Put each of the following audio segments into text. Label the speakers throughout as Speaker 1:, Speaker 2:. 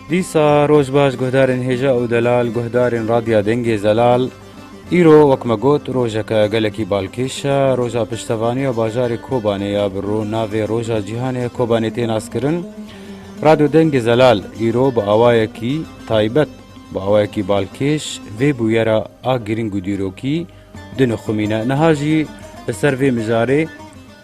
Speaker 1: Dîsa roj baş guhdarên hêja û delal, guhdarên Radya Dengê Zelal. Îro wek me got rojeke gelekî balkêş e. Roja piştevaniya bajarê Kobanê ya bi ro navê Roja Cîhanê Kobanê tê naskirin. Radyo Dengê Zelal îro bi awayekî taybet, bi awayekî balkêş vê bûyera a girîng û dîrokî dinixumîne. Niha jî li ser vê mijarê.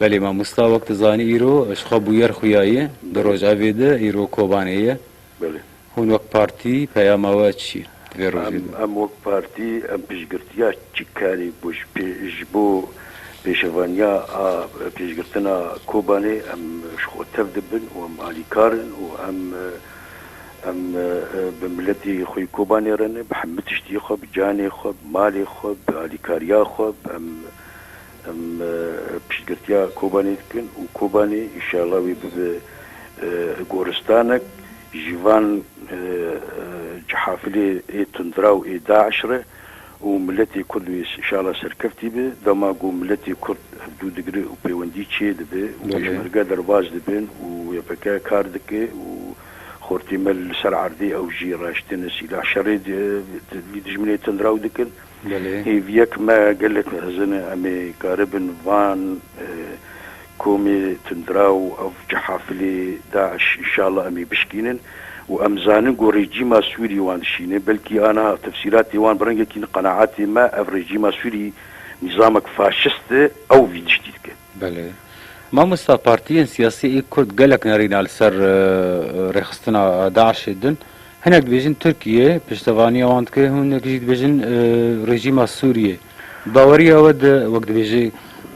Speaker 2: Belê mamosta
Speaker 1: wek tu zanî îro ji xwe bûyer xuyayê di rojevê de îro Kobanê ye. Hûn
Speaker 2: wek partî
Speaker 1: peyama we çi ye di vê rojê de? Em wek partî
Speaker 2: em piştgirtiya çi karî bo ji bo pêşevaniya a pêşgirtina Kobanê em ji xwe tev dibin û em alîkar in û em em bi miletê xwe Kobanê re ne bi hemû tiştî xwe bi canê xwe bi malê xwe bi alîkariya xwe em Em piştgirtiya Kobanê dikin û Kobanê înşeallah wê bibe goristanek ji van cihafilê ê tundiraw ê DAIŞ re û miletê Kurd wê înşeallah serkeftî be. Dema ku miletê Kurd ev dû digire û pêwendî çê dibe û Pêşmerge derbas dibin û YPK kar dike û xortê me li ser erdê ew jî raştine sîlah şerê dijminê tundiraw dikin. Gelê. Hêviyek me gelek hezin e em ê karibin van komê tundiraw ev cehafilê DAIŞ inşallah em ê bişkînin û em zanin ku rejîma Sûrî wan dişîne belkî aniha tefsîratê wan bi rengekî qenaatê me ev rejîma Sûrî nîzamek faşist e ew vî tiştî dike. Belê.
Speaker 1: Mamosta partiyên siyasî ê kurd gelek nerîna li ser rêxistina DAIŞ'ê din. Hinek dibêjin Tirkiye piştevaniya wan dike, hinek jî dibêjin rejîma Sûriyê. Bi baweriya we de wek dibêjê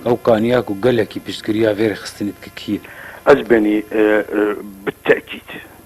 Speaker 1: ew kaniya ku gelekî piştgiriya vê rêxistinê dike kî ye? Ez benî
Speaker 2: bi tekîd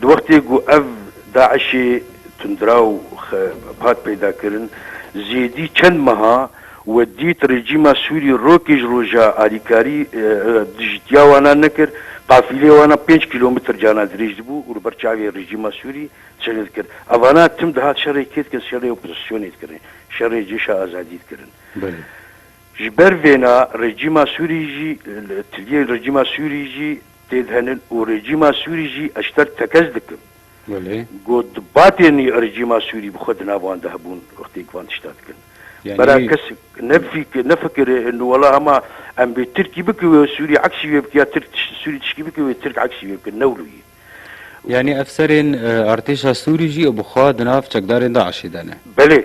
Speaker 2: Di wextê ku ev DAIŞ'ê tundraw hat peydakirin, zêdî çend meha we dît rejîma Sûrî rokê ji roja alîkarî dijîtiya wana nekir, qafîleyê wana pênc kîlometr cana dirêj dibû û li ber çavê rejîma Sûrî çene dikir. Evana tim dihat şerê kê dikirin? Şerê opozîsyonê dikirin, şerê Cêşa Azadî dikirin. Ji ber vêna rejîma Sûrî jî, tiliyên rejîma Sûrî jî têdhenin û rejîma Sûrî jî eşter tekez dikin. Got di batên nî rejîma Sûrî bi xwe di nav wan de hebûn wextêk van tişta dikin. Bera kesik nefikire nu wela hema em bê Tirkî bikin wê Sûrî eksî wê bikin ya Tirk Sûrî tişkî bikin wê Tirk eksî wê bikin newlo yî. Yanî
Speaker 1: efserên artêşa Sûrî jî bi xwe di nav çekdarên DAIŞ'ê de ne. Belê.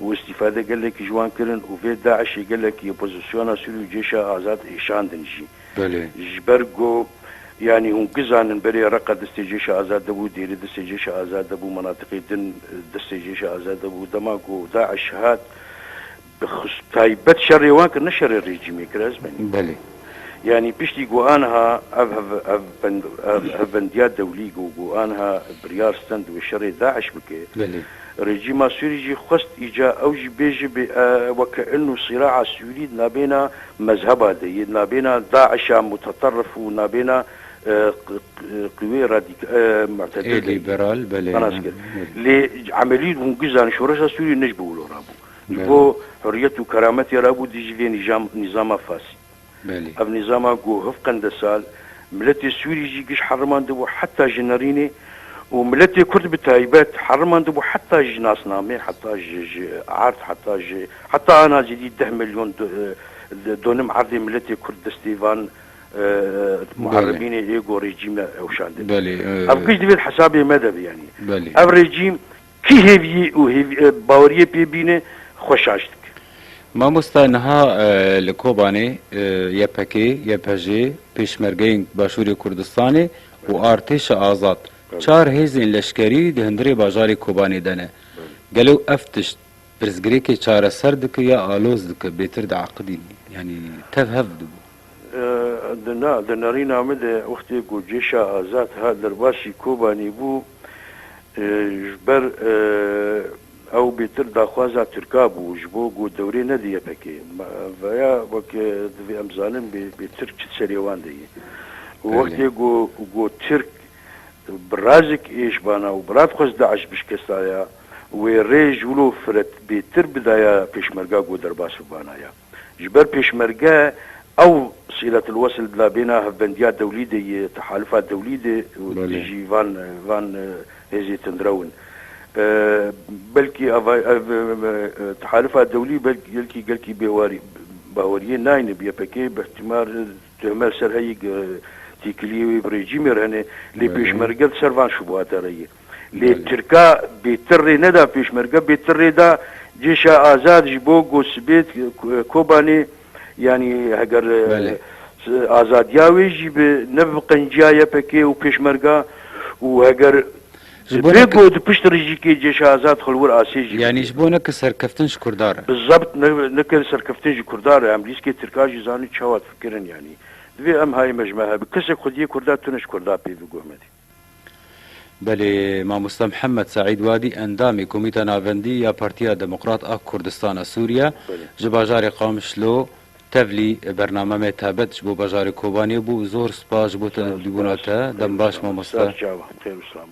Speaker 2: û îstîfade gelekî ji wan kirin û vê DAIŞ'ê gelekî opozisyona Sûrî û Cêşa Azad êşandin jî. Ji
Speaker 1: ber ku
Speaker 2: yanî hûn gizanin berê Reqa distê Cêşa Azad de bû, Dêrê distê Cêşa Azad de bû, menatiqê din distê Cêşa Azad de bû. Dema ku DAIŞ hat bi xus taybet şerê wan kir ne şerê rejîmê kir ez menîm.
Speaker 1: Yanî piştî
Speaker 2: ku aniha ev hevbendiya dewlî ku ku aniha biryar stend wê şerê DAIŞ bike, rejîma Sûrî jî xwest îca ew jî bêje bê weke in û sîra'a Sûrî di navbêna mezheba de yê, di navbêna DAIŞ'a muteterif û navbêna qiwê mu'tedil de
Speaker 1: yê, xelas kir.
Speaker 2: Lê emelî hûn gizan şoreşa Sûrî nij bi wilo rabû. Ji bo huriyet û kerametê re bû dijî vê nîzama Fasî. Ev nîzama ku hiv qende sal miletê Sûrî jî giş herimandibû heta ji nirînê û miletê Kurd bi taybet herimandibû heta ji nasnamê, heta ji ji erd, heta ji heta ana cîdî deh milyon donim erdê miletê Kurd destê van muherebînê ê ku rejîme ewşandine. Ev giş divêt
Speaker 1: hesabê
Speaker 2: me de be yanî ev rejîm Kî hêviyê û baweriyê pê bîne xwe şaş dike.
Speaker 1: Mamosta niha li Kobanê YPG, YPJ, Pêşmergeyên Başûrê Kurdistanê û Artêşa Azad çar hêzên leşkerî di hundirê bajarê Kobanê de ne. Gelo ev tişt Pirsgirêkê çareser dike ya aloz dike bêtir diaqidîn yanî tev hev dibû. Di na di
Speaker 2: nerîna min de wextê ku cêşa azad hat derbasî Kobanî bû ji ber ew bêtir daxwaza tirka bû ji bo ku dewrê nede YPK'ê. Vaya weke divê em zanin bêtir çi di serê wan de ye. Wextê ku ku tirk bi razik êşbana û bi radxwez DAIŞ bişkestaya. Wê rê ji wilo firet bêtir bidaya pêşmerga ku derbas bibana ya. Ji ber pêşmerge ew Sîletil Wesil bila bêna hevbendiya dewlî de yê, tehalifa dewlî de dijî van van hêzê tundrew in. Belkî ava ev tehalifa dewlî belkî gelkî bêwarî baweriyê nayne bi YPK'ê. Bi îhtîmal tuhme li ser heyî ku têkiliyê wê bi rejîmê re hene lê pêşmerge li ser van şubata re ye. Lê Tirka bê tir rê neda Pêşmerge bê tir rê da Cêşa Azad ji bo ku sibêt Kobanê yanî heger azadiya wê jî bi ne bi qenciya YPK û Pêşmerga û heger vê ku di pişt rijîkê Cêşa Azad xilwir asê jî bidê. Yanî ji bo neke
Speaker 1: serkeftin ji Kurdan re. Bizebt neke
Speaker 2: serkeftin ji Kurdan re. Em lîskê Tirka jî zanîn çawa difikirin yanî. Divê em hayê me ji me hebe. Kesek xwediyê Kurda tune ji Kurda pê biguhmedê.
Speaker 1: Belê Mamosta Mihemed Seîd Wadî endamê Komîta Navendî ya Partiya Demokrat a Kurdistan a Sûriye ji bajarê Qamişlo tevlî bername me taybet ji bo bajarê Kobaniyê bû zor spas ji
Speaker 2: bo
Speaker 1: tevlîbûna te dem baş mamoste.